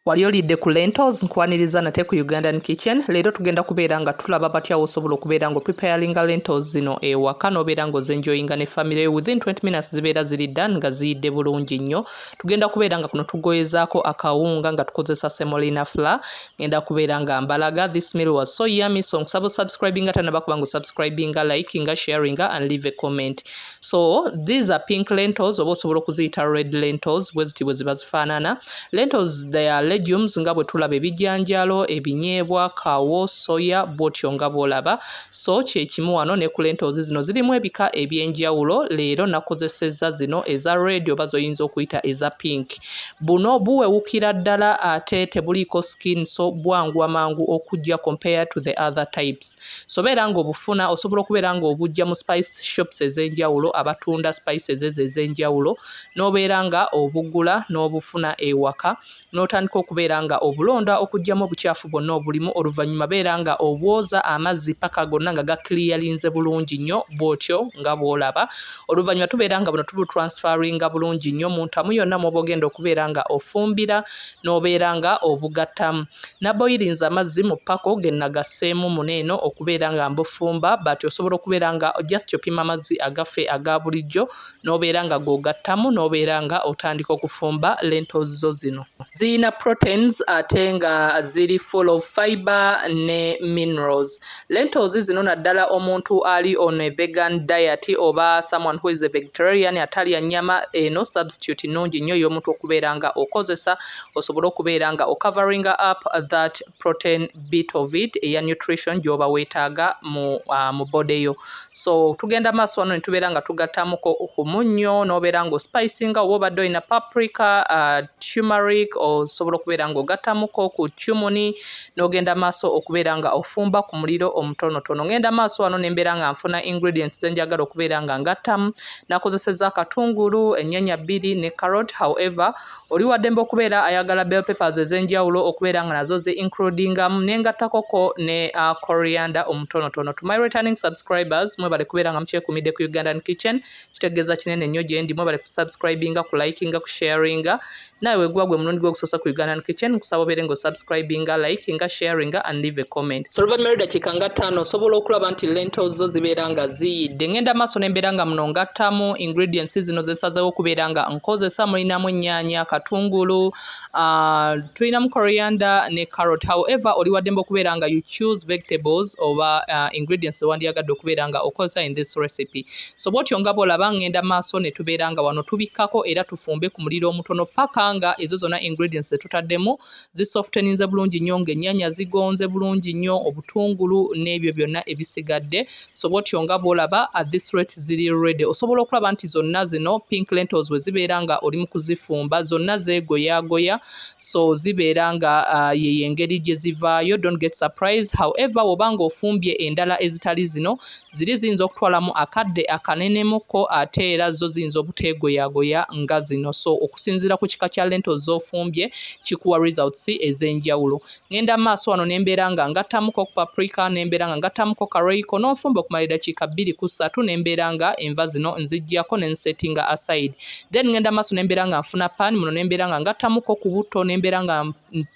wali olidde ku lentals nkwaniriza nate ku ugandan kitchen leero tugenda kubeera nga tulaba batya wosobola okubeera nga opreparinga lentals zino ewaka nobeera nga ozenjoyinga ne family within 20 minutes zibeera ziri dan nga ziyidde bulungi nnyo tugenda kubeera nga kuno tugoyezaako akawunga nga tukozesa semolina fla ngenda kubeera nga mbalaga this meal was so yummy so nkusaba osubscribinga tanabakuba nga osubscribinga likinga sharinga and leave a comment so these are pink lentils oba osobola okuziyita red lentils bwe ziti bwe ziba zifaanana lentils they are legumes nga bwe tulaba ebijanjalo ebinyeebwa kawo soya bwotyo nga bwolaba so kyekimu wano ne ku lentils zino zirimu ebika ebyenjawulo leero nakozesezza zino eza red oba zoyinza okuyita eza pink buno buwewukira ddala ate tebuliiko skin so bwangwa mangu okujja compare to the other types so beera nga obufuna osobola okubeera nga obujja mu spice shops ez'enjawulo abatunda spices ezo ez'enjawulo n'obeera nga obugula n'obufuna ewaka n'otandika okubeera nga obulonda okugyamu obucaafu bwonna obulimu oluvannyuma beera nga obwoza amazzi paka gonna nga gakiliyalinze bulungi nnyo bw'otyo nga bw'olaba oluvannyuma tubeera nga buno tubutransferinga bulungi nnyo mu ntamu yonna mw'oba ogenda okubeera nga ofumbira n'obeera nga obugatta. Naboyirinze amazzi mu ppako ge nnagasseemu muno eno okubeera nga mbufumba but osobola okubeera nga just opima amazzi agaffe aga bulijjo n'obeera nga g'ogattamu n'obeera nga otandika okufumba lentils zo zino. Ziyina proteins ate nga ziri full of fibre ne minerals. Lentils zino naddala omuntu ali on a vegan diet oba someone who is a vegetarian atalya nyama eno substitute nnungi nnyo ey'omuntu okubeera nga okozesa osobole okubeera nga ocovering up that protein bit of it eya nutrition gy'oba weetaaga mu, uh, mu body yo so tugenda maaso wano ne tubeera nga tugattamuko ku munnyo n'obeera nga ospicinga oba obadde olina paprika uh, tumeric osobola okubeera nga ogattamuko ku cumuni n'ogenda maaso okubeera nga ofumba ku muliro omutonotono ngenda maaso wano nembeera nga nfuna ingredients zenjagala okubeera nga ngattamu nakozeseza akatungulu ennyanya bbiri ne carrot however oli waddembe okubeera ayagala bell papers ezenjawulo okubeera nga nazo ze includingamu nengattakoko ne uh, coriander omutonotono to my returning subscribers mwebale kubeera nga mukyekumidde ku ugandan kitchen kitegeeza kinene nnyo gyendi mwebale kusubscribinga ku likinga ku sharinga Nawe wegwa gwe mulundi gwokusosa ku Ugandan Kitchen nkusaba obeere nga osubscribinga, likinga, sharinga and leave a comment. So oluvannyuma lw'eddakiika nga ttaano osobola okulaba nti lento zo zibeera nga ziyidde. Ngenda maaso ne mbeera nga muno ngattamu ingredients zino ze nsazeewo okubeera nga nkozesa. Mulinamu ennyaanya, katungulu, uh, tulinamu coriander ne carrot. However, oli waddembe okubeera nga you choose vegetables oba uh, ingredients ze wandyagadde okubeera nga okozesa in this recipe. So bwotyo nga bwolaba ngenda maaso netubeera nga wano tubikkako era tufumbe ku muliro omutono paka nga ezo zona ingredients zetutaddemu zi softeninze bulungi nnyo nga ennyanya zigonze bulungi nnyo obutungulu n'ebyo byonna ebisigadde so bwotyo nga bwolaba at this rate ziri ready osobola okulaba nti zonna zino pink lentils we zibeera nga oli mu kuzifumba zonna zeegoyaagoya so zibeera nga uh, yeyo engeri gye zivaayo don't get surprise however woba nga ofumbye endala ezitali zino Ziri ziyinza okutwalamu akadde akanenemuko ate era zo ziyinza obuteegoyagoya nga zino so okusinziira ku kika kya lento z'ofumbye kikuwa results ez'enjawulo. Ngenda maaso wano ne mbeera nga ngattamuko ku paprika ne mbeera nga ngattamuko ka royco n'onfumba okumala eddakiika bbiri ku ssatu ne mbeera nga enva zino nziggyako ne nsetinga aside then ngenda maaso ne mbeera nga nfuna pan muno ne mbeera nga ngattamuko ku butto ne mbeera nga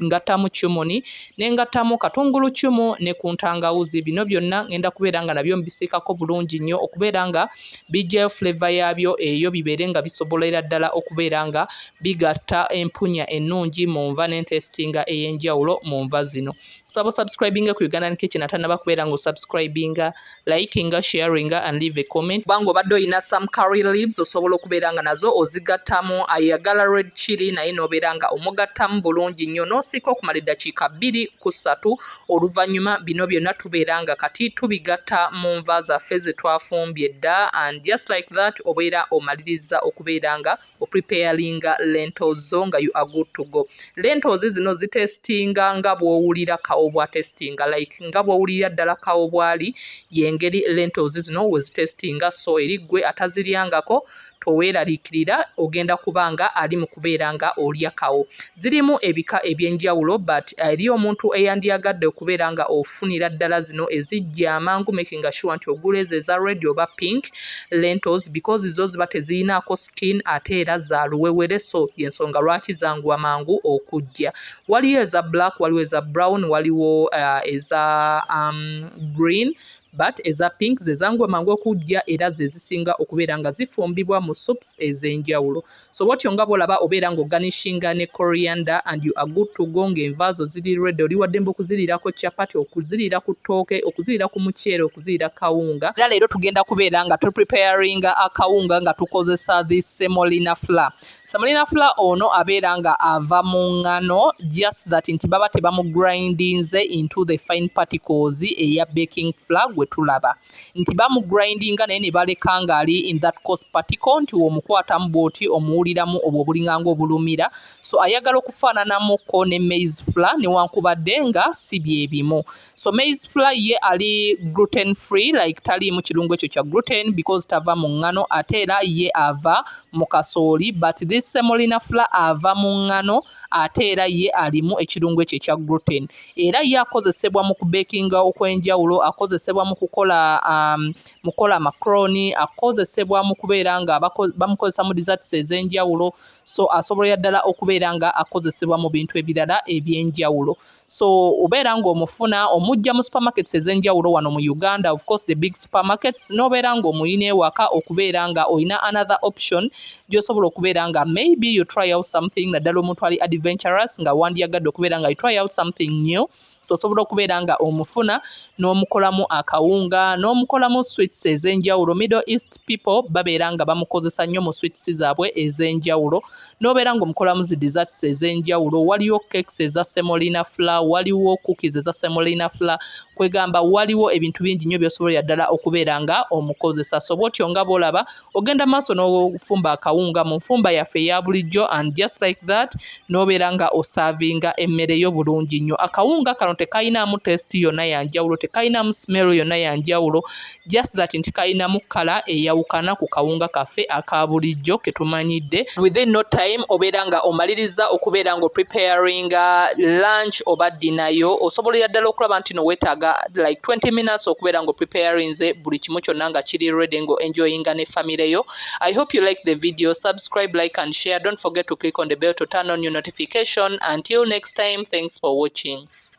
ngattamu cumuni ne ngattamu katungulu cumu ne ku ntangawuzi bino byonna ngenda kubeera nga nabyo mbisiikako bulungi nnyo okubeera nga bijjayo fuleva yaabyo eyo bibeere nga bisobolera ddala okubeera nga bigatta empunya ennungi mu nva n'entesitinga ey'enjawulo mu nva zino kusaba osubscribinga ku ugandan kitchen atanaba kubeera nga osubscribinga likinga sharinga and leave a comment kubanga obadde olina some curry leaves osobola okubeera nga nazo ozigattamu ayagala red chili naye nobeera nga omugattamu bulungi nnyo nosiika okumala eddakiika bbiri ku ssatu oluvannyuma bino byonna tubeera nga kati tubigatta mu nva zaffe zetwafumbye dda and just like that obeera omaliriza okubeera nga opreparinga lentals zo nga you are good to go lentals zino zitestinga nga bwowulira kawo bwatestinga like nga bwowulira ddala kawo bwali yengeri lentals zino wezitestinga so eri gwe ataziryangako toweeraliikirira ogenda kuba nga ali mu kubeera nga olya kawo Zirimu ebika eby'enjawulo but uh, eri omuntu eyandyagadde okubeera nga ofunira ddala zino ezijja amangu making sure nti ogula ezo eza red oba pink lentils because zo ziba teziyinaako skin ate era za luwewere so yensonga lwaki zanguwa mangu okujja waliyo eza black waliwo eza brown waliwo uh, eza um, green but eza pink ze zangu amangu okujja era ze zisinga okubeera nga zifumbibwa mu soups ez'enjawulo so bwotyo nga bwolaba obeera ng'oganishinga ne coriander and you are good to go ng'envaazo ziri redi oli waddembe okuziriirako chapati okuziriira ku ttooke okuziriira ku muceere okuziriira kawunga era leero tugenda kubeera nga tupreparinga akawunga nga tukozesa the semolina flour Semolina fula ono abeera nga ava mu ngano just that nti baba tebamugrindinze into the fine particles eya baking fula gwe tulaba nti bamugrindinga naye ne baleka ng'ali in that cost particle nti womukwatamu bwoti omuwuliramu obwo obulinganga obulumira so ayagala okufaananamuko ne maize fula newankubadde nga si bye bimu so maize fula ye ali gluten free like taliimu kirungu ekyo kya gluten because tava mu ngano ate era ye ava mu kasooli but this semolina fla ava mu ngano ate era ye alimu ekirungo ekyo ekya gluten era ye akozesebwa mu kubekinga okwenjawulo akozesebwa mu kukola um, mu kukola macroni akozesebwa mu kubeera nga bamukozesa mu desserts ez'enjawulo so asobolera ddala okubeera nga akozesebwa mu bintu ebirala eby'enjawulo so obeera ng'omufuna omujja mu supermarkets ez'enjawulo wano mu uganda of course the big supermarkets n'obeera ng'omuyina ewaka okubeera nga olina another option gy'osobola okubeera nga maybe you try out something naddala omuntu ali adventurous nga wandyagadde okubeera nga you try out something new so osobola okubeera nga omufuna n'omukolamu akawunga n'omukolamu sweets ez'enjawulo middle east people babeera nga bamukozesa nnyo mu sweets zaabwe ez'enjawulo n'obeera ng'omukolamu zi desserts ez'enjawulo waliyo cakes eza semolina fla waliwo cookies eza semolina fla kwegamba waliwo ebintu bingi nnyo byosobolera ddala okubeera nga omukozesa so bwotyo nga bwolaba ogenda maaso n'ofumba akawunga mu nfumba yaffe eya bulijjo and just like that n'obeera nga osaavinga emmere yo bulungi nnyo akawunga kano tekayinaamu test yonna yanjawulo tekayinaamu smell yonna yanjawulo just that nti kalinamu kkala eyawukana ku kawunga kaffe aka bulijjo ke tumanyidde. Within no time obeera nga omalirizza okubeera nga opreparinga lunch oba ddina yo, osobolera ddala okulaba nti no weetaaga like 20 minutes okubeera nga opreparinze buli kimu kyonna nga kiri ready nga enjoyinga ne famire yo. I hope you like the video, subscribe, like and share, don't forget to click on the bell to turn on your notification. Until next time, thanks for watching.